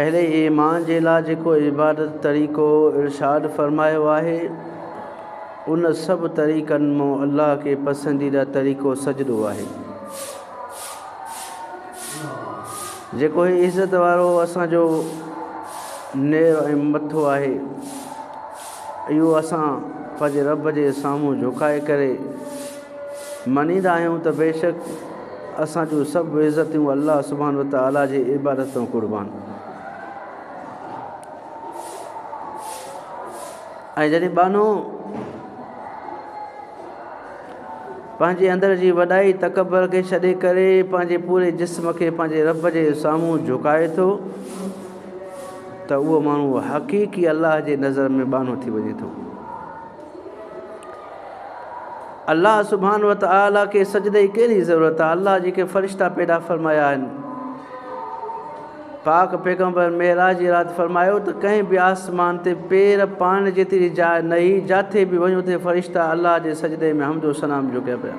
اهڙي ئي ايمان جي لاء جيڪو عبادت طريقو ارشاد فرمايو آهي، ان سڀ طريقن مان الله کي پسنديده طريقو سجدو آهي. جيڪو هي عزت وارو اسان جو نير ۽ مٿو آهي، اهو اسان پنهنجي رب جي سامهون جهڪائي ڪري مڃيندا آهيون ته بيشڪ اسان جون سڀ عزتون الله سبحانه وتعاليٰ جي عبادت تان قربان ۽ جڏهن ٻانهو پنهنجي اندر جي وڏائي تڪبر کي ڇڏي ڪري پنهنجي پوري جسم کي پنهنجي رب جي سامهون جھڪائي ٿو ته اهو ماڻهو حقيقي الله جي نظر ۾ ٻانهو ٿي وڃي ٿو الله سبحانه وتعالي کي سجدي جي ڪهڙي ضرورت آهي الله جيڪي فرشتا پيدا فرمايا آهن پاڪ پيغمبر معراج جي رات فرمايو ته ڪنهن به آسمان تي پير پائڻ جيتري جاء نه هئي جاٿي به وڃو اتي فرشتا الله جي سجدي ۾ حمد و ثنا جو ڪيا پيا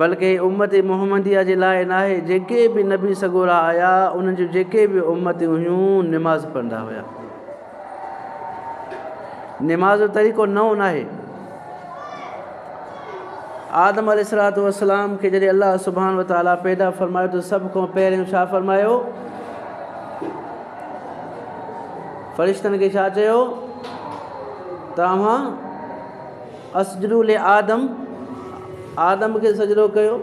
بلڪ هي امت محمديه جي لاء ناهي، جيڪي به نبي سڳورا آيا انهن جون جيڪي به امتيون هيون نماز پڙهندا هيا. نماز جو طريقو نئون ناهي. آدم عليه الصلوۃ والسلام کي جڏهن الله سبحانه وتعالي پيدا فرمايو ته سڀ کان پهريون ڇا فرمايو؟ فرشتن کي ڇا چيو؟ توهان اسجدو لآدم، آدم کي سجدو ڪيو.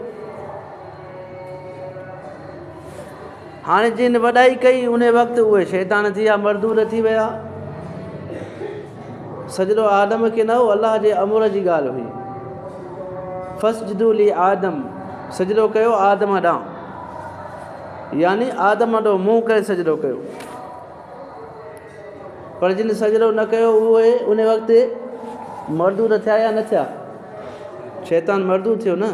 هاڻي جن وڏائي ڪئي ان وقت اهي شيطان ٿي ويا مردود ٿي ويا. سجدو آدم کي نه هو الله جي امر جي ڳالهه هئي. فسجدو لآدم سجدو ڪيو آدم ڏانهن يعني آدم ڏو منهن ڪري سجدو ڪيو. پر جن سجدو نه ڪيو اهي ان وقت مردو ته ٿيا يا نه ٿيا؟ شيطان مردو ٿيو نه؟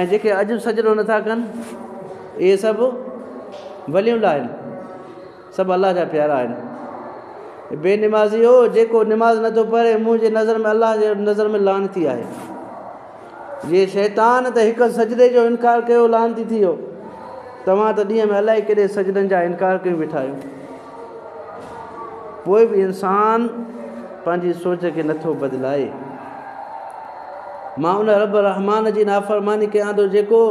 ۽ جيڪي اڄ به سجدو نه ٿا ڪن اهي سڀ ولي الله آهن، سڀ الله جا پيارا آهن. اي بي نمازيؤ! جيڪو نماز نه ٿو پڙهي منهنجي نظر ۾ الله جي نظر ۾ لعنتي آهي. جي شيطان ته هڪ سجدي جو انڪار ڪيو لعنتي ٿي ويو توهان ته ڏينهن ۾ الائي ڪيڏي سجدن جا انڪار ڪيون بيٺا آهيو پوء به انسان پنهنجي سوچ کي نٿو بدلائي مان ان رب رحمان جي نافرماني ڪيان ٿو جيڪو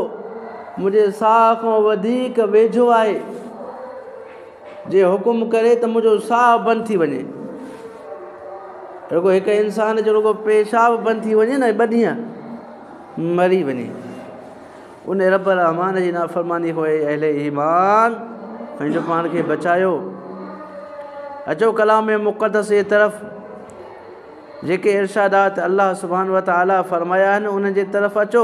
منهنجي ساهه کان وڌيڪ ويجهو آهي جي حڪم ڪري ته منهنجو ساهه بند ٿي وڃي. رڳو هڪ انسان جو رڳو پيشاب بند ٿي وڃي نه ٻه ڏينهن مري وڃي ان رب الرحمان جي نافرماني هو اهل ايمان پنهنجو پاڻ کي بچايو اچو ڪلام مقدس جي طرف جيڪي ارشادات الله سبحان و تعاليٰ فرمايا آهن انهن جي طرف اچو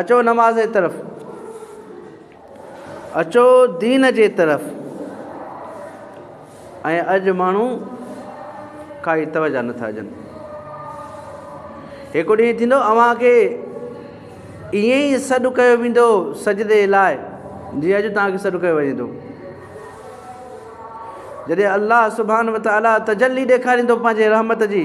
اچو نماز جي طرف. اچو دين جي طرف. ۽ اڄ ماڻهو ڪائي توجه نٿا ڏين. هڪ ڏينهن ٿيندو اوهان کي ائين ئي سڏ ڪيو ويندو سجدي لاء جيئن اڄ توهان کي سڏ ڪيو وڃي ٿو. جڏهن الله سبحانه وتعاليٰ تجلي ڏيکاريندو پنهنجي رحمت جي.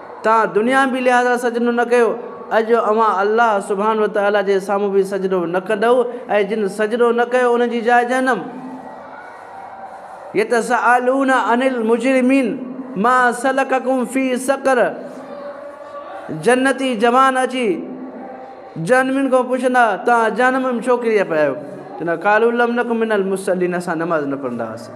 تان دنياوي لحاظ سان سجدو نه ڪيو، اڄ اوهان الله سبحانه وتعالي جي سامهون به سجدو نه ڪندؤ ۽ جن سجدو نه ڪيو انهن جي جاء جهنم. يتساءلون عن المجرمين ما سلڪكم في سقر جنتي جوان اچي جهنمين کان پڇندا توهان جهنم ۾ ڇو ڪري پيا آهيو؟ چوندا قالوا لم نڪ من المصلين اسان نماز نه پڙهندا هئاسين.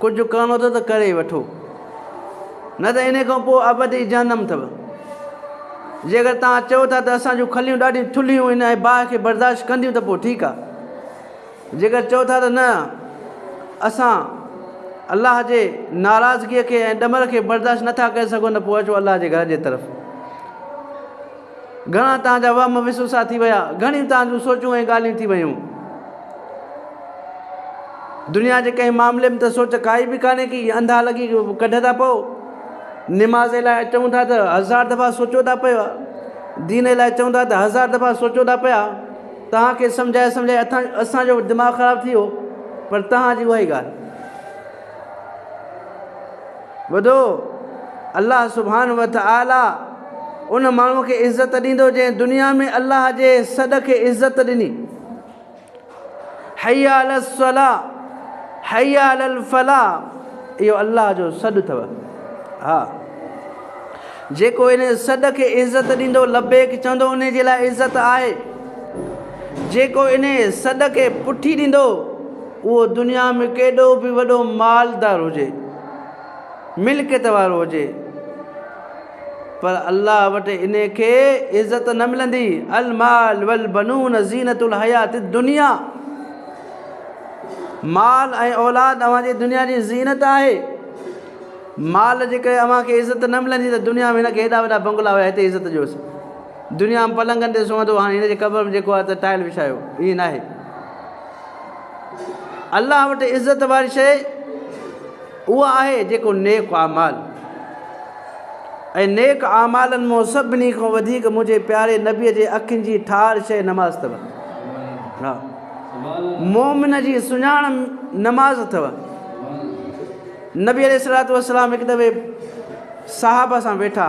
ڪجهه ڪرڻو اٿو ته ڪري وٺو نه ته ان کان پوء ابدي جهنم اٿو. جيڪر توهان چئو ٿا ته اسان جون کليون ڏاڍيون ٿلهيون هن ۽ باهه کي برداشت ڪنديون ته پوء ٺيڪ آهي. جيڪر چئو ٿا ته نه اسان الله جي ناراضگيء کي ۽ ڏمر کي برداشت نه ٿا ڪري سگهون ته پوء اچو الله جي گهر جي طرف. گهڻا تان جا وهم وسوسا ٿي ويا، گهڻيون تان جون سوچون ۽ ڳالهيون ٿي ويون. دنيا جي ڪنهن معاملي ۾ ته سوچ ڪائي به ڪانهي ڪي انڌا لڳي ڪڍ ٿا پئو. نماز لاء اچون ٿا ته هزار دفعا سوچو ٿا پئو. دين لاء چون ٿا ته هزار دفعا سوچو ٿا پيا. توهان کي سمجهائي سمجهائي اٿان اسان جو به دماغ خراب ٿي ويو پر توهان جي اها ئي ڳالهه. ٻڌو، الله سبحانه وتعالي ان ماڻهوء کي عزت ڏيندو جنهن دنيا ۾ الله جي سڏ کي عزت ڏني. حي علي الصلاة حي علي الفلاح اهو الله جو سڏ اٿو. ها جيڪو ان سڏ کي عزت ڏيندو لبيڪ چوندو ان جي لاء عزت آهي جيڪو ان سڏ کي پٺي ڏيندو اهو دنيا ۾ ڪيڏو به وڏو مالدار هجي، ملڪيت وارو هجي پر الله وٽ ان کي عزت نه ملندي، المال والبنون زينت الحيات الدنيا، مال ۽ اولاد اوهان جي دنيا جي زينت آهي، مال جي ڪري اوهان کي عزت نه ملندي ته دنيا ۾ هن کي هيڏا وڏا بنگلا هيا هتي عزت ڏيوس، دنيا ۾ پلنگن تي سمهندو هو هاڻي هن جي قبر ۾ جيڪو آهي ته ٽائل وڇايو، ائين ناهي. الله وٽ عزت واري شيء اها آهي جيڪو نيڪ اعمال ۽ نيڪ اعمالن مون سڀني کان وڌيڪ منهنجي پياري نبيء جي اکين جي ٺار شيء نماز اٿو ها مومن جي سڃاڻ نماز اٿو نبي عليه السلام هڪ دفعي صحابه سان ويٺا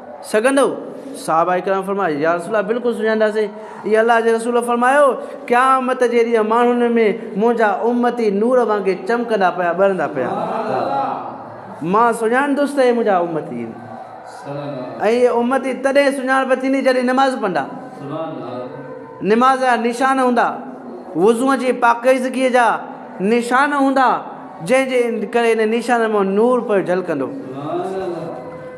سگهندؤ؟ صحابه ڪرام فرمايو، يا رسول الله بلڪل سڃائينداسين. اي الله جي رسول فرمايو، قيامت جي ڏينهن ماڻهن ۾ منهنجا امتي نور وانگي چمڪندا پيا ٻرندا پيا مان سڃاڻندس ته اهي منهنجا امتي آهن ۽ اهي امتي تڏهن سڃاڻپ ٿيندي جڏهن نماز پندا نماز جا نشان هوندا وضوء جي پاڪيزگيء جا نشان هوندا جنهن جي ڪري ان نشانن مان نور پيو جلڪندو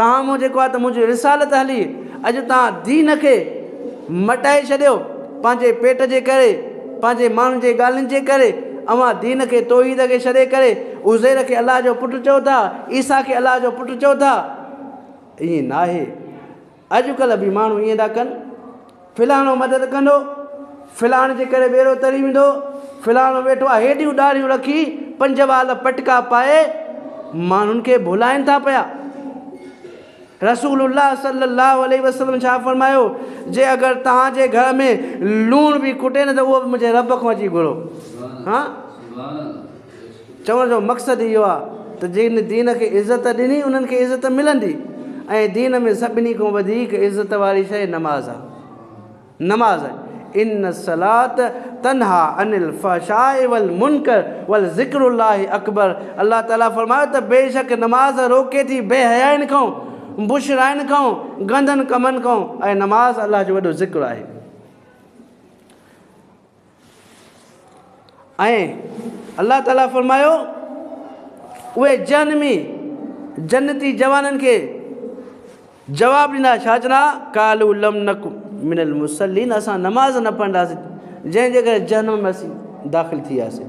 تان مون جيڪو آهي ته منهنجي رسالت هلي اڄ تان دين کي مٽائي ڇڏيو پنهنجي پيٽ جي ڪري پنهنجي ماڻهن جي ڳالهين جي ڪري اوهان دين کي توحيد کي ڇڏي ڪري عزير کي الله جو پٽ چئو ٿا عيسيٰ کي الله جو پٽ چئو ٿا ائين ناهي اڄ ڪلهه به ماڻهو ائين ٿا ڪن فلاڻو مدد ڪندو، فلاڻ جي ڪري ٻيڙو تري ويندو، فلاڻو ويٺو آهي هيڏيون ڏاڙهيون رکي پنج وال پٽڪا پائي ماڻهن کي ڀولائين ٿا پيا. رسول الله صلي الله عليه وسلم ڇا فرمايو جي اگر توهان جي گهر ۾ لوڻ به کٽي نه ته اهو به منهنجي رب کان اچي گهرو. چوڻ جو مقصد اهو آهي ته جن دين کي عزت ڏني انهن کي عزت ملندي ۽ دين ۾ سڀني کان وڌيڪ عزت واري شيء نماز آهي نماز آهي ان الصلات تنها عن الفحشاء والمنکر والذکر الله اڪبر الله تعالي فرمايو ته بيشڪ نماز روڪي ٿي بي حيائين کان بشرائن کان گندن ڪمن کان ۽ نماز الله جو وڏو ذڪر آهي ۽ الله تعالي فرمايو اهي جهنمي جنتي جوانن کي جواب ڏنا ڇا چنا ڪالو لم نڪ من المسلين اسان نماز نه پڙهنداسين جنهن جي ڪري جهنم ۾ اسين داخل ٿي وياسين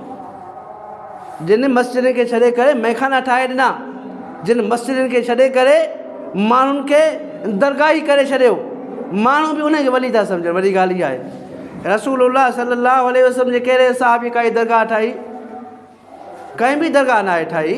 جن مسجدن کي ڇڏي ڪري مئخانا ٺاهي ڏنا، جن مسجدن کي ڇڏي ڪري ماڻهن کي درگاهي ڪري ڇڏيو، ماڻهو به انهن کي ولي ٿا سمجهن، وڏي ڳالهه اها آهي رسول الله صلي الله عليه وسلم جي ڪهڙي صحابي ڪائي درگاهه ٺاهي؟ ڪنهن به درگاهه ناهي ٺاهي.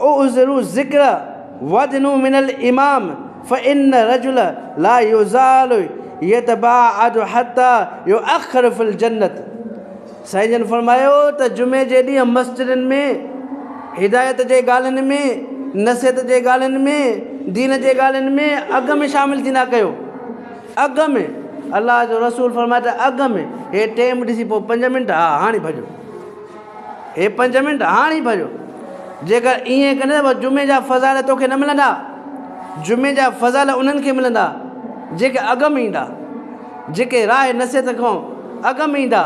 اعذر ذکر وادنو من الامام فان الرجل لا يزال يتباعد حتي يؤخر في الجنت سائين جن فرمايو ته جمعي جي ڏينهن مسجدن ۾ هدايت جي ڳالهين ۾ نصيحت جي ڳالهين ۾ دين جي ڳالهين ۾ اڳ ۾ شامل ٿيندا ڪيو اڳ ۾ الله جو رسول فرمايو ته اڳ ۾ هي ٽيم ڏسي پوء پنج منٽ ها هاڻي ڀڄو هي پنج منٽ هاڻ ئي ڀريو. جيڪر ائين ڪندين ته پوء جمعي جا فضائل توکي نه ملندا. جمعي جا فضائل انهن کي ملندا، جيڪي اڳ ۾ ايندا. جيڪي راهه نصيحت کان اڳ ۾ ايندا.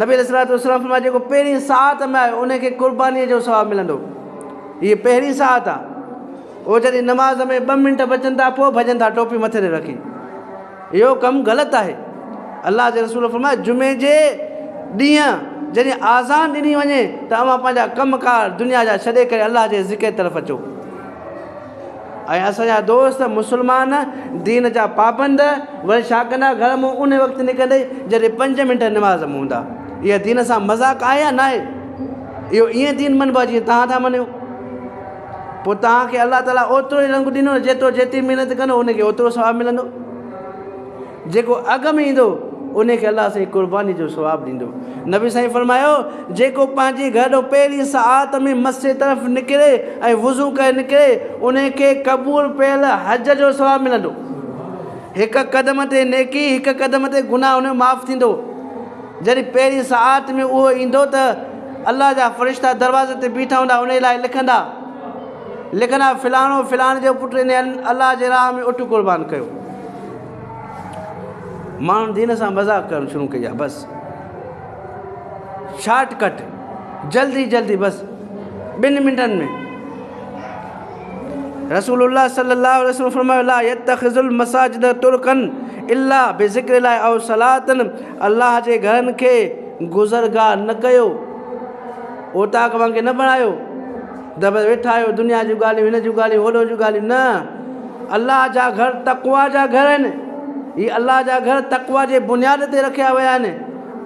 نبي عليه الصلوة والسلام فرمايو، جيڪو پهرين ساعت ۾ آيو، ان کي قربانيء جو ثواب ملندو. هيء پهرين ساعت آ. اهو جڏهن نماز ۾ ٻه منٽ بچن ٿا، پوء ڀڄن ٿا، ٽوپي مٿي تي رکي. اهو ڪم غلط آهي. الله جي رسول فرمايو، جمعي جي ڏينهن جڏهن آذان ڏني وڃي ته اوهان پنهنجا ڪم ڪار دنيا جا ڇڏي ڪري الله جي ذڪر طرف اچو ۽ اسان جا دوست مسلمان دين جا پابند وري ڇا ڪندا گهر مون ان وقت نڪرندي جڏهن پنج منٽ نماز مون هوندا اها دين سان مذاق آهي يا ناهي اهو ائين دين منبو جي تهان ٿا مڃيو پوء توهان کي الله تعاليٰ اوترو ئي رنگ ڏنو ته جيترو جيتري محنت ڪندو ان کي اوترو ثواب ملندو. جيڪو اڳ ۾ ايندو ان کي الله سائين قرباني جو ثواب ڏيندو. نبي سائين فرمايو، جيڪو پنهنجي گهر ڏانهن پهرين ساعت ۾ مسجد طرف نڪري ۽ وضو ڪري نڪري ان کي قبول پيل حج جو ثواب ملندو. هڪ قدم تي نيڪي هڪ قدم تي گناهه ان جو معاف ٿيندو. جڏهن پهرين ساعت ۾ اهو ايندو ته الله جا فرشتا دروازي تي بيٺا هوندا انهيء لاء لکندا لکندا فلاڻو فلاڻي جو پٽ انهيء الله جي راهه ۾ اٺ قربان ڪيو. ماڻهن دين سان مذاق ڪرڻ شروع ڪئي آهي بس شارٽ ڪٽ جلدي جلدي بس ٻن منٽن ۾ رسول الله صلي الله عليه وسلم فرمايو لا يتخذ المساجد ترڪن الا بذكر الله او صلاتن الله جي گهرن کي گذرگاهه نه ڪيو، اوطاق وانگي نه بڻايو ته بس ويٺا آهيو دنيا جون ڳالهيون هن جون ڳالهيون هوڏهن جون ڳالهيون نه الله جا گهر تقويٰ جا گهر آهن هي الله جا گهر تقويٰ جي بنياد تي رکيا ويا آهن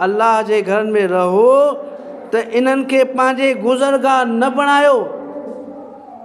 الله جي گهرن ۾ رهو ته انهن کي پنهنجي گذرگاهه نه بڻايو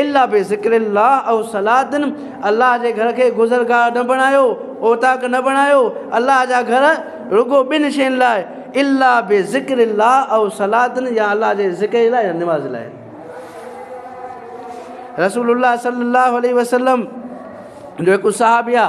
الا بذڪر الله او صلات الله جي گهر کي گذرگاهه نه بڻايو، اوطاق نه بڻايو، الله جا گهر رڳو ٻن شين لاء الا بذڪر الله او صلات يا الله جي ذڪر جي لاء يا نماز لاء. رسول الله صلي الله عليه وسلم جو هڪ صحابي آ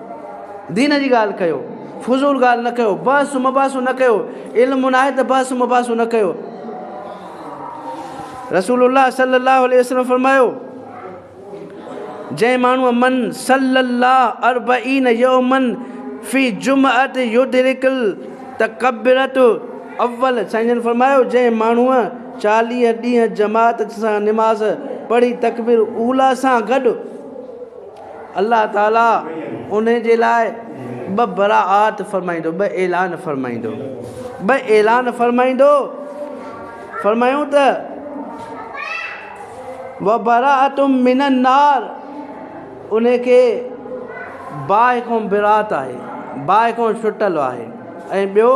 دين جي ڳالهه ڪيو، فضول ڳالهه نه ڪيو، بحث و مباحثو نه ڪيو، علم ناهي ته بحث و مباحثو نه ڪيو. رسول الله صلي الله عليه وسلم فرمايو جنهن ماڻهوء من صلي الله اربعين يومن في جمعت يدرڪ التڪبيرة اول سائين جن فرمايو جنهن ماڻهوء چاليهه ڏينهن جماعت سان نماز پڙهي تڪبير اولی سان گڏ الله تعاليٰ ان جي لاء ٻه براءات فرمائيندو، ٻه اعلان فرمائيندو، ٻه اعلان فرمائيندو، فرمايائون ته، وبراءة من النار، ان کي باهه کان براءت آهي، باهه کان ڇٽل آهي ۽ ٻيو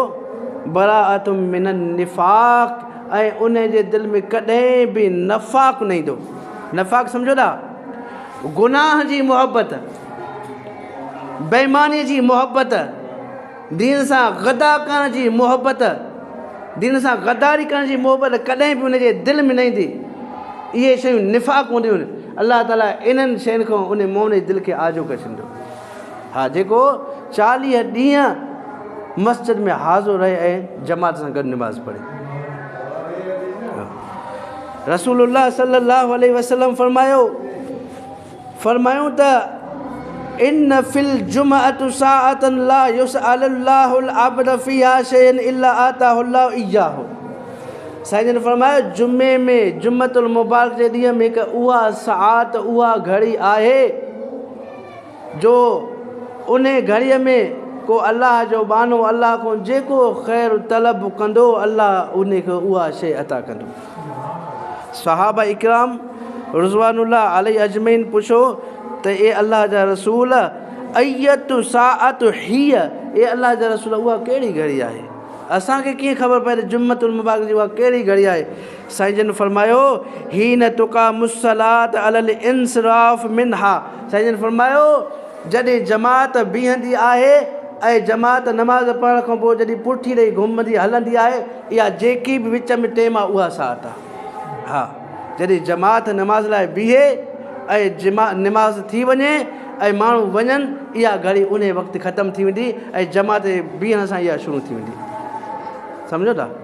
براءة من النفاق ۽ ان جي دل ۾ ڪڏهن به نفاق نه ايندو، نفاق سمجهو ٿا؟ گناهه جي محبت، بيمانيء جي محبت، دين سان غدا ڪرڻ جي محبت، دين سان غداري ڪرڻ جي محبت ڪڏهن به ان جي دل ۾ نه ايندي. اهي شيون نفاق هونديون آهن. الله تعاليٰ انهن شين کان ان مؤمن جي دل کي آجو ڪري ڇڏيندو. ها جيڪو چاليهه ڏينهن مسجد ۾ حاضر رهي ۽ جماعت سان گڏ نماز پڙهي. رسول الله صلي الله عليه وسلم فرمايو فرمايون ته ان في الجمعه ساعه لا يسال الله العبد فيها شيء الا اعطاه الله اياه سائين جن فرمايو جمعه ۾ جمعه المبارڪ جي ڏينهن ۾ هڪ اها ساعت اها گهڙي آهي جو انهي گهڙيء ۾ ڪو الله جو ٻانهو الله کان جيڪو خير طلب ڪندو الله انهي کي اها شيء عطا ڪندو. صحابه اڪرام رضوان الله عليه اجمعين پڇيو ته اي الله جا رسول اية ساعة هي اي الله جا رسول اها ڪهڙي گهڙي آهي؟ اسان کي ڪيئن خبر پوي ته جمعة المبارڪ جي اها ڪهڙي گهڙي آهي؟ سائين جن فرمايو، حين تقام الصلاة علی الانصراف منها، سائين جن فرمايو، جڏهن جماعت بيهندي آهي ۽ جماعت نماز پڙهڻ کان پوء جڏهن پٺي ڏئي گهمندي هلندي آهي، اها جيڪي به وچ ۾ ٽيم آهي اها ساعت آهي. ها جڏهن جماعت نماز لاء بيهي ۽ جما نماز ٿي وڃي ۽ ماڻهو وڃن، اها گهڙي انهي وقت ختم ٿي ويندي ۽ جماعت جي بيهڻ سان اها شروع ٿي ويندي. سمجهو ٿا؟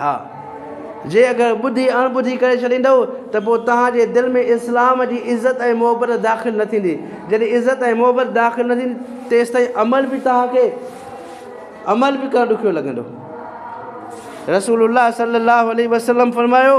ها! جي اگر ٻڌي اڻ ٻڌي ڪري ڇڏيندؤ ته پوء توهان جي دل ۾ اسلام جي عزت ۽ محبت داخل نه ٿيندي. جڏهن عزت ۽ محبت داخل نه ٿيندي تيستائين عمل به توهان کي عمل به ڪرڻ ڏکيو لڳندو. رسول الله صلي الله عليه وسلم فرمايو.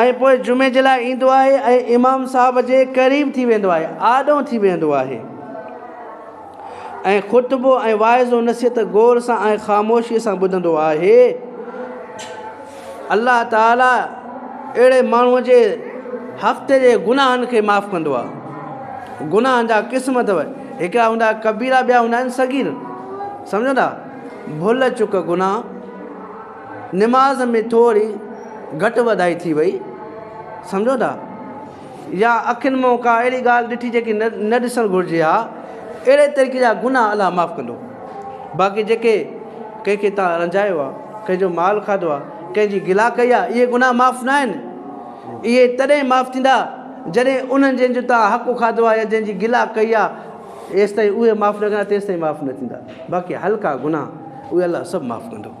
۽ پوء جمعي جي لاء ايندو آهي ۽ امام صاحب جي قريب ٿي ويندو آهي، آڏو ٿي ويهندو آهي ۽ خطبو ۽ واعظ و نصيحت غور سان ۽ خاموشيء سان ٻڌندو آهي. الله تعاليٰ اهڙي ماڻهوء جي هفتي جي گناهن کي معاف ڪندو آهي. گناهن جا قسم اٿو، هڪڙا هوندا ڪبيرا ٻيا هوندا آهن صغير. سمجهو ٿا؟ ڀل چڪ گناهه. نماز ۾ ٿوري گهٽ وڌائي ٿي وئي سمجهو ٿا يا اکين مون ڪا اهڙي ڳالهه ڏٺي جيڪي نه نه ڏسڻ گهرجي ها اهڙي طريقي جا گناهه الله معاف ڪندو باقي جيڪي ڪنهن کي تان رنجايو آ ڪنهن جو مال کاڌو آ ڪنهن جي گلا ڪئي آ اهي گناهه معاف نه آهن اهي تڏهن معاف ٿيندا جڏهن انهن جن جو تان حق کاڌو آ يا جن جي گلا ڪئي آ ايستائين اهي معاف نه ڪندا تيستائين معاف نه ٿيندا باقي هلڪا گناهه اهي الله سڀ معاف ڪندو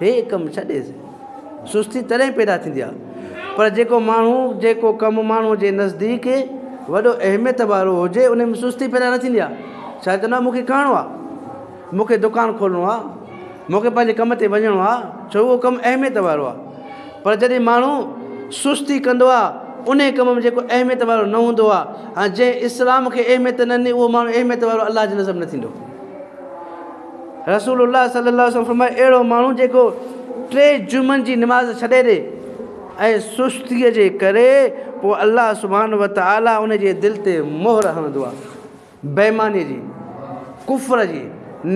هي ڪم ڇڏي سستي تڏهن پيدا ٿيندي آهي پر جيڪو ماڻهو جيڪو ڪم ماڻهو جي نزديڪ وڏو اهميت وارو هجي ان ۾ سستي پيدا نه ٿيندي آهي ڇا چوندو آهي مونکي ڪهڻو آهي مونکي دڪان کولڻو آهي مونکي پنهنجي ڪم تي وڃڻو آهي ڇو اهو ڪم اهميت وارو آهي پر جڏهن ماڻهو سستي ڪندو آهي ان ڪم ۾ جيڪو اهميت وارو نه هوندو آهي ۽ جنهن اسلام کي اهميت نه ڏني اهو ماڻهو اهميت وارو الله جي نظر نه ٿيندو رسول الله صلي الله عليه وسلم فرمايو، اهڙو ماڻهو جيڪو ٽي جمعن جي نماز ڇڏي ڏي ۽ سستيء جي ڪري پوء الله سبحانه وتعالي ان جي دل تي مهر هڻندو آهي بيمانيء جي، ڪفر جي،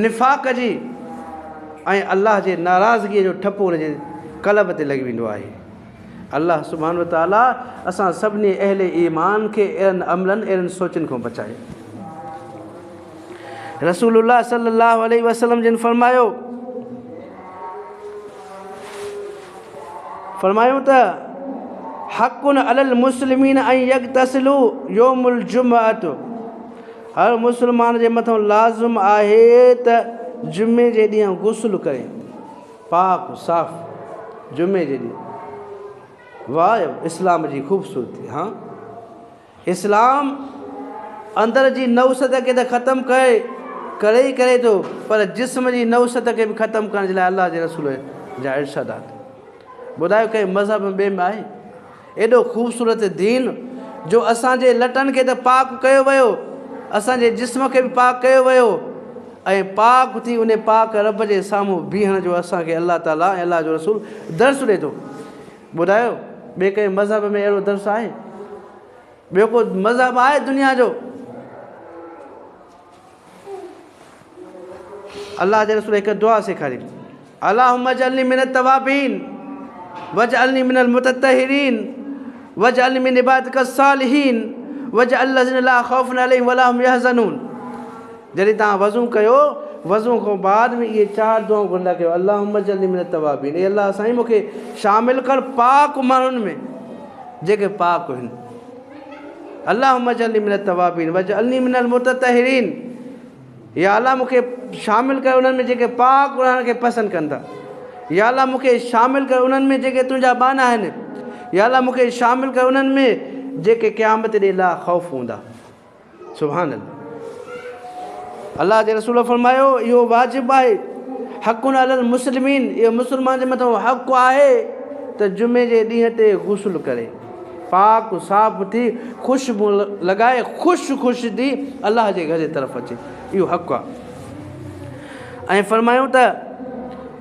نفاق جي ۽ الله جي ناراضگيء جو ٺپو ان جي قلب تي لڳي ويندو آهي. الله سبحانه وتعالي اسان سڀني اهل ايمان کي اهڙن عملن، اهڙين سوچن کان بچائي. رسول الله صلي الله عليه وسلم جن فرمايو فرمايو ته حق علی المسلمین ان يغتسلوا يوم الجمعه هر مسلمان جي مٿان لازم آهي ته جمعي جي ڏينهن غسل ڪري پاڪ صاف جمعي جي ڏينهن واهه اسلام جي خوبصورتي ها اسلام اندر جي نحوست کي ته ختم ڪري ڪري ئي ڪري ٿو پر جسم جي نحوست کي به ختم ڪرڻ جي لاء الله جي رسول جا ارشادات ٻڌايو ڪنهن مذهب ٻئي ۾ آهي ايڏو خوبصورت دين جو اسان جي لٽن کي ته پاڪ ڪيو ويو اسان جي جسم کي به پاڪ ڪيو ويو ۽ پاڪ ٿي ان پاڪ رب جي سامهون بيهڻ جو اسان کي الله تعاليٰ ۽ الله جو رسول درس ڏي ٿو ٻڌايو ٻي ڪنهن مذهب ۾ اهڙو درس آهي ٻيو ڪو مذهب آهي دنيا جو الله جي رسول هڪ دعا سيکاري الله مج علي من التوابين وج علي من المتطهرين وج علي من عبادت الصالحين وج الذين لا خوف عليهم ولا هم يحزنون جڏهن توهان وضو ڪيو، وضو کان بعد ۾ اهي چار دعائون گهرندا ڪيو، اللهم اجعلني من التوابين، اي الله سائين مون کي شامل ڪر پاڪ ماڻهن ۾ جيڪي پاڪ هن، اللهم اجعلني من التوابين واجعلني من المتطهرين، يا الله مون کي شامل ڪر انهن ۾ جيڪي پاڪ رهڻ کي پسند ڪن ٿا، يا الله مون کي شامل ڪر انهن ۾ جيڪي تنهنجا ٻانها آهن، يا الله مون کي شامل ڪر انهن ۾ جيڪي قيامت ڏينهن لاء خوف هوندا. سبحان الله الله جي رسول فرمايو اهو واجب آهي حق علي المسلمين اهو مسلمان جي مٿان حق آهي ته جمعي جي ڏينهن تي غسل ڪري پاڪ صاف ٿي خوشبو لڳائي خوش خوش ٿي الله جي گهر جي طرف اچي اهو حق آهي ۽ فرمايو ته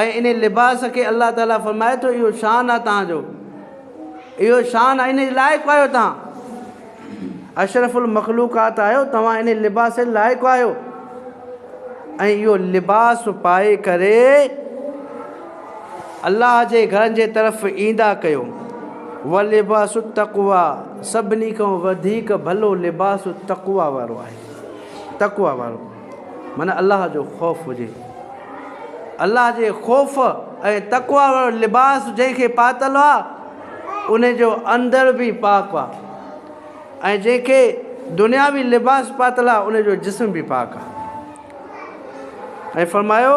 ۽ انهي لباس کي الله تعالي فرمائي ٿو اهو شان آهي توهان جو اهو شان آهي انهي لائق آهيو توهان اشرف المخلوقات آهيو توهان انهي لباس لائق آهيو ۽ اهو لباس پائي ڪري الله جي گھرن جي طرف ايندا ڪيو ولباس التقوى سڀني کان وڌيڪ ڀلو لباس التقوى وارو آهي تقوى وارو من الله جو خوف هجي. الله جي خوف ۽ تقويٰ وارو لباس جنهن کي پاتل آ ان جو اندر به پاڪ آ ۽ جنهن کي دنياوي لباس پاتل آ ان جو جسم به پاڪ آ ۽ فرمايو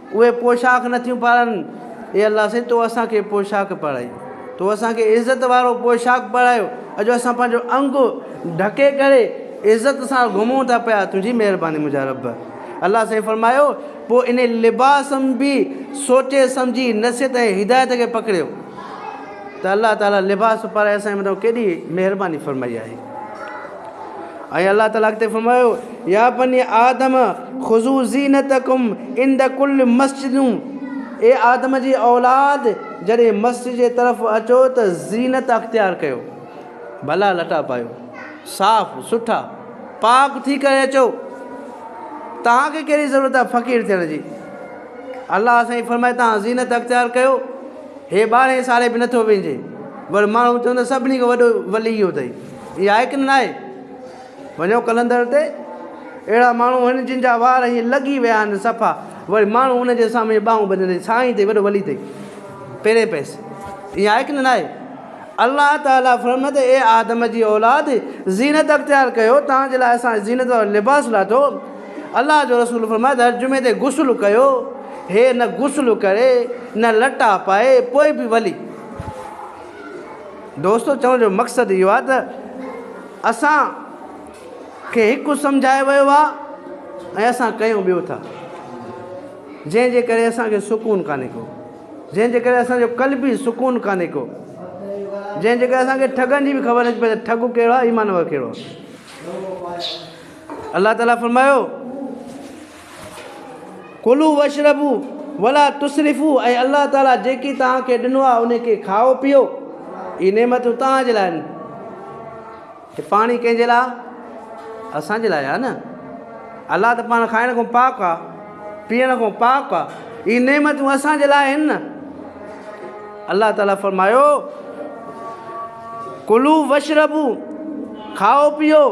اهي پوشاڪ نه ٿيون پارن. اي الله سائين تو اسان کي پوشاڪ پارائي تو اسان کي عزت وارو پوشاڪ پارايو اڄ اسان پنهنجو انگ ڍڪي ڪري عزت سان گهمون ٿا پيا تنهنجي مهرباني منهنجا رب الله سائين فرمايو پوء ان لباس م به سوچي سمجهي نصيحت ۽ هدايت کي پڪڙيو ته الله تعالي لباس پارائي اسان جي مٿان ڪيڏي مهرباني فرمائي آهي. ۽ الله تعالي اڳتي فرمايو، يا بني آدم خذو زينتکم عند کل مسجد اي آدم جي اولاد جڏهن مسجد جي طرف اچو ته زينت اختيار ڪيو ڀلا لٽا پايو صاف سٺا پاڪ ٿي ڪري اچو تهان کي ڪهڙي ضرورت آهي فقير ٿيڻ جي الله سائين فرمائي تان زينت اختيار ڪيو هي ٻارهين سالي به نٿو وينجي ور ماڻهو چوندا سڀني کي وڏو ولي اهو اٿئي هي آهي ڪن ناهي؟ وڃو قلندر تي اهڙا ماڻهو آهن جن جا وار ائين لڳي ويا آهن صفا وري ماڻهو ان جي سامهين ٻانهون ٻڌندي سائين تي وڏو ولي تي پيري پيس ائين آهي ڪن ناهي؟ الله تعالي فرمايو ته اي آدم جي اولاد زينت اختيار ڪيو توهان جي لاء اسان زينت وارو لباس لاٿو الله جو رسول فرمايو ته هر جمعي تي غسل ڪيو هي نه غسل ڪري نه لٽا پائي پوء به ولي دوستو چوڻ جو مقصد اهو آهي ته اسان کي هڪ سمجهايو ويو آهي ۽ اسان ڪيون ٻيو ٿا جنهن جي ڪري اسان کي سڪون ڪانهي ڪو جنهن جي ڪري اسان جو قلبي سڪون ڪانهي ڪو جنهن جي ڪري اسان کي ٺڳن جي به خبر نٿي پئي ته ٺڳ ڪهڙو آهي ايمان وارو ڪهڙو آهي الله تعالٰي فرمايو ڪلوا واشربوا ولا تسرفوا اي الله تعاليٰ جيڪي توهان کي ڏنو آهي ان کي کائو پيئو اهي نعمتون توهان جي لاء آهن هي پاڻي ڪنهن جي لاء اسان جي لاء آهي نه الله ته پاڻ کائڻ کان پاڪ آهي پيئڻ کان پاڪ آهي اهي نعمتون اسان جي لاء آهن نه الله تعالي فرمايو، ڪلو واشربو، کائو پيئو،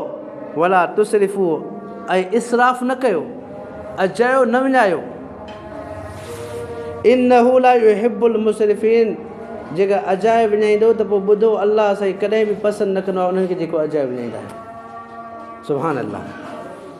ولا تسرفو ۽ اسراف نه ڪيو، اجايو نه وڃايو، انه لا يحب المسرفين، جيڪر اجايو وڃائيندو ته پوء ٻڌو الله سائين ڪڏهن به پسند نه ڪندو آهي انهن کي جيڪو اجايو وڃائيندا آهن. سبحان الله.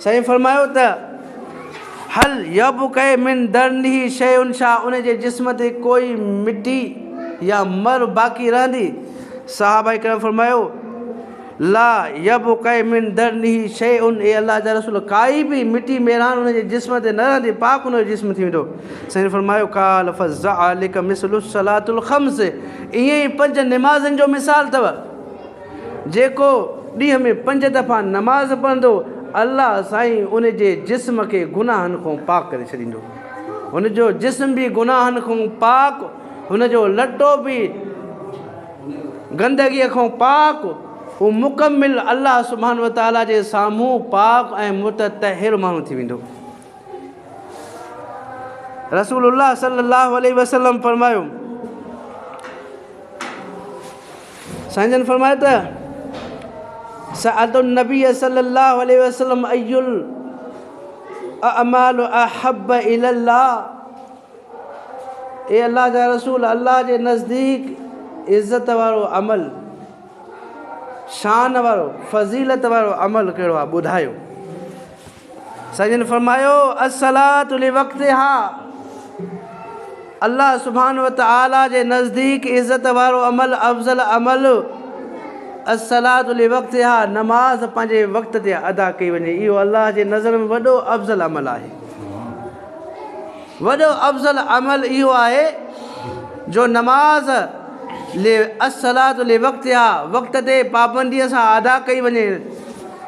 سائين فرمايو ته، هل يبقئ من درنه شيء ڇا ان جي جسم تي ڪوئي مٽي يا مر باقي رهندي؟ صحابه ڪرام فرمايو، لا يبقئ من درنه شيء اي الله جا رسول ڪائي به مٽي ميران ان جي جسم تي نه رهندي پاڪ ان جو جسم ٿي ويندو. سائين فرمايو، قال فذعلڪ مثل الصلات الخمس ائين ئي پنج نمازن جو مثال اٿو. جيڪو ڏينهن ۾ پنج دفعا نماز پڙهندو، الله سائين ان جي جسم کي گناهن کان پاڪ ڪري ڇڏيندو. هن جو جسم به گناهن کان پاڪ، هن جو لٽو به گندگيء کان پاڪ، هو مڪمل الله سبحانه وتعاليٰ جي سامهون پاڪ ۽ متطهر ماڻهو ٿي ويندو. رسول الله صلّي اللّٰه عليه وسلّم فرمايو. سائين جن فرمايو ته سألت النبي صلي الله عليه وسلم اي الاعمال احب الي الله اي الله جا رسول الله جي نزديڪ عزت وارو عمل شان وارو فضيلت وارو عمل ڪهڙو آهي ٻڌايو سائين جن فرمايو الصلات لوقتها الله سبحانه وتعالي جي نزديڪ عزت وارو عمل افضل عمل الصلات لوقتها نماز پنهنجي وقت تي ادا ڪئي وڃي اهو الله جي نظر ۾ وڏو افضل عمل آهي وڏو افضل عمل اهو آهي جو نماز لي اصلاحات لي وقت يا وقت تي پابنديء سان ادا ڪئي وڃي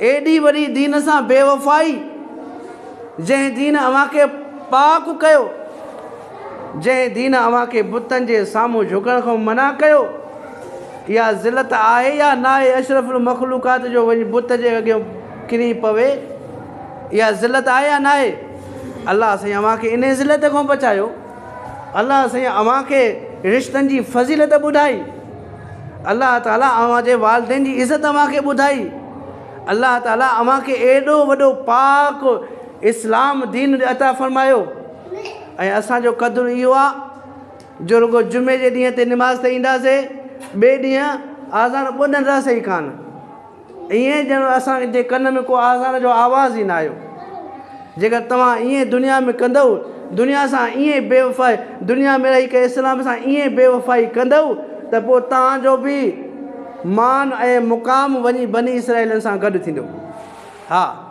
ايڏي وڏي دين سان بي وفائي، جنهن دين اوهان کي پاڪ ڪيو، جنهن دين اوهان کي بتن جي سامهون جهڪڻ کان منع ڪيو، اها ذلت آهي يا ناهي اشرف المخلوقات جو وڃي بت جي اڳيان ڪري پوي، اها ذلت آهي يا ناهي؟ الله سائين اوهان کي انهي ذلت کان بچايو. الله سائين اوهان کي رشتن جي فضيلت ٻڌائي الله تعالي اوهان جي والدين جي عزت اوهان کي ٻڌائي الله تعالي اوهان کي ايڏو وڏو پاڪ اسلام دين عطا فرمايو ۽ اسانجو قدر اهو آهي جو رڳو جمعي جي ڏينهن تي نماز تي اينداسي ٻئي ڏينهن آزان ٻڌندا سهي ڪانه ائين ڄڻ اسان جي ڪن ۾ ڪو آزار جو آواز ئي نه آيو. جيڪر توهان ائين دنيا ۾ ڪندؤ، دنيا سان ائين بي وفائي، دنيا ۾ رهي ڪري اسلام سان ائين بي وفائي ڪندؤ ته پوء توهان جو به مان ۽ مقام وڃي بني اسرائيلن سان گڏ ٿيندو. ها!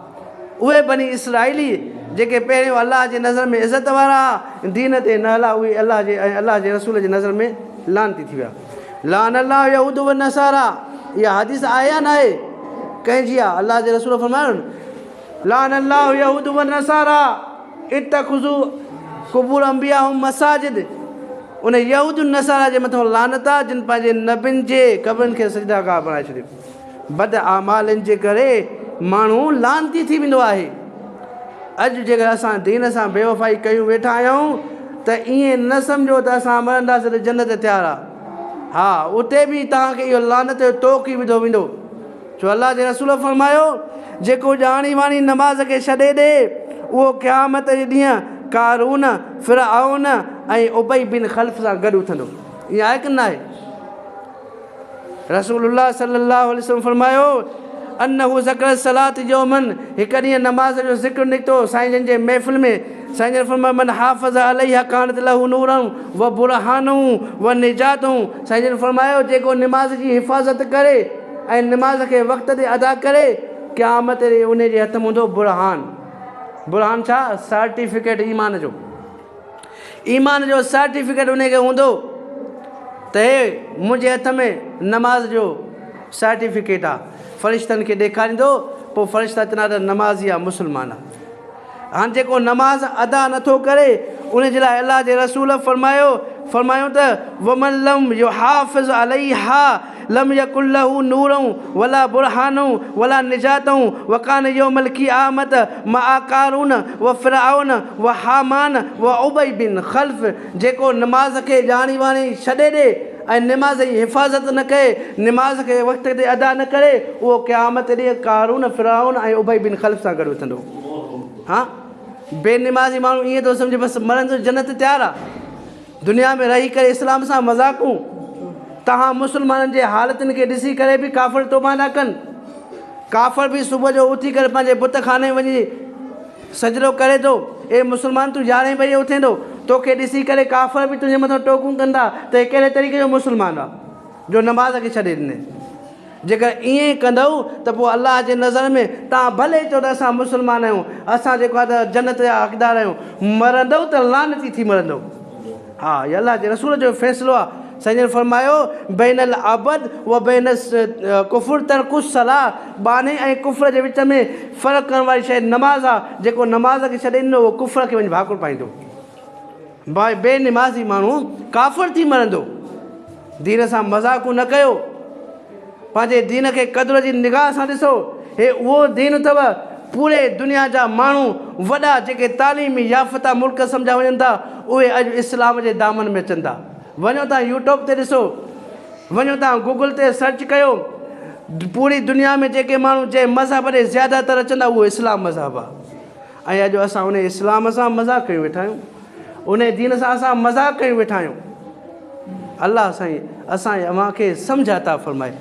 اهي بني اسرائيلي جيڪي پهريون الله جي نظر ۾ عزت وارا ها، دين تي نه هلا، اهي الله جي ۽ الله جي رسول جي نظر ۾ لعنتي ٿي ويا. لعن الله اليهود والنصاري، اها حديث آهي يا ناهي؟ ڪنهن جي آهي؟ الله جي رسول فرمايو، لعن الله اليهود والنصاري اتخذو قبور انبيائهم مساجد، ان يهود نصارا جي مٿان لعنت آهي جن پنهنجي نبين جي قبرن کي سجده گاهه بڻائي ڇڏيو. بد اعمالين جي ڪري ماڻهو لعنتي ٿي ويندو آهي. اڄ جيڪڏهن اسان دين سان بيوفائي ڪيون ويٺا آهيون ته ائين نه سمجهو ته اسان مرنداسين ته جنت تيار آ. ها اتي به توهان کي اهو لعنت جو طوق ئي وڌو ويندو. ڇو الله جي رسول فرمايو، جيڪو ڄاڻي واڻي نماز کي ڇڏي ڏي اهو قيامت جي ڏينهن قارون، فرعون ۽ ابي بن خلف سان گڏ اٿندو. ائين آهي ڪنه ناهي؟ رسول الله صلي الله عليه وسلم فرمايو، انه ذڪر الصلاة يوما هڪ ڏينهن نماز جو ذڪر نڪتو سائين جن جي محفل ۾ سائين جن فرمايو، من حافظ عليها ڪانت له نورا و برهانا و نجاة سائين جن فرمايو جيڪو نماز جي حفاظت ڪري ۽ نماز کي وقت تي ادا ڪري قيامت تي انهي جي هٿ م هوندو برهان، برهان ڇا؟ سارٽيفڪيٽ ايمان جو. ايمان جو سرٽيفڪيٽ انهي کي هوندو ته هي منهنجي هٿ ۾ نماز جو سرٽيفڪيٽ آ فرشتن کي ڏيکاريندو پوء فرشتا چوندا ته نمازي آ مسلمان آ هاڻ جيڪو نماز ادا نٿو ڪري انهي جي لاء الله جي رسول فرمايو فرمايون ته ومن لم يحافظ عليها لم يڪن له نور ولا برهان ولا نجاة وڪان يوم القيامة مع قارون وفرعون وهامان وابي بن خلف جيڪو نماز کي ڄاڻي واڻي ڇڏي ڏي ۽ نماز جي حفاظت نه ڪري، نماز کي وقت تي ادا نه ڪري، اهو قيامت ڏينهن قارون، فرعون ۽ ابي بن خلف سان گڏ اٿندو. ها! بي نمازي ماڻهو ائين ٿو سمجهي بس مرڻ جو جنت تيار آ. دنيا ۾ رهي ڪري اسلام سان مذاقون تهان مسلمانن جي حالتن کي ڏسي ڪري به ڪافر توبه نه ڪن ڪافر به صبح جو اٿي ڪري پنهنجي بت خاني وڃي سجدو ڪري ٿو اي مسلمان تون يارهين بجي اٿين ٿو توکي ڏسي ڪري ڪافر به تنهنجي مٿان ٽوڪون ڪندا ته هي ڪهڙي طريقي جو مسلمان آ جو نماز کي ڇڏي ڏني. جيڪر ائين ڪندؤ ته پوء الله جي نظر ۾ توهان ڀلي چئو ته اسان مسلمان آهيون، اسان جيڪو آهي ته جنت جا حقدار آهيون، مرندؤ ته لعنتي ٿي مرندؤ. ها هي الله جي رسول جو فيصلو آهي. سائين جن فرمايو، بين العبد و بين الڪفر ترڪ الصلاة، ٻانهي ۽ ڪفر جي وچ ۾ فرق ڪرڻ واري شيء نماز آهي، جيڪو نماز کي ڇڏي ڏنو اهو ڪفر کي وڃي ڀاڪر پائيندو. باء بي نمازي ماڻهو ڪافر ٿي مرندو دين سان مذاق نه ڪيو پنهنجي دين کي قدر جي نگاهه سان ڏسو هي اهو دين اٿو پوري دنيا جا ماڻهو وڏا جيڪي تعليمي يافته ملڪ سمجهيا وڃن ٿا اهي اڄ اسلام جي دامن ۾ اچن ٿا وڃو تان يوٽوب تي ڏسو وڃو تان گوگل تي سرچ ڪيو پوري دنيا ۾ جيڪي ماڻهو جنهن مذهب ڏي زياده تر اچن ٿا اهو اسلام مذهب آهي ۽ اڄ اسان انهي اسلام سان مذاق ڪيون ويٺا آهيون انهي دين سان اسان مذاق ڪيون ويٺا آهيون الله سائين اسان ۽ اوهان کي سمجهه عطا فرمائي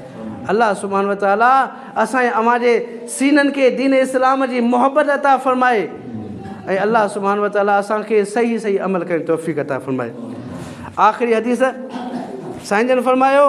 الله سبحان و تعالٰي اسان ۽ اوهان جي سينن کي دين اسلام جي محبت عطا فرمائي ۽ الله سبحان و تعالٰي اسان کي صحيح صحيح عمل ڪرڻ توفيق عطا فرمائي آخري حديث سائين جن فرمايو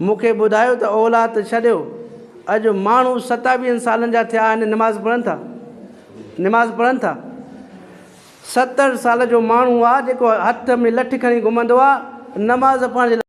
مون کي ٻڌايو ته اولاد ڇڏيو، اڄ ماڻهو ستاويهن سالن جا ٿيا آهن نماز پڙهن ٿا، نماز پڙهن ٿا. ستر سال جو ماڻهو آ جيڪو هٿ ۾ لٺ کڻي گهمندو آ نماز پڙهڻ جي لاء.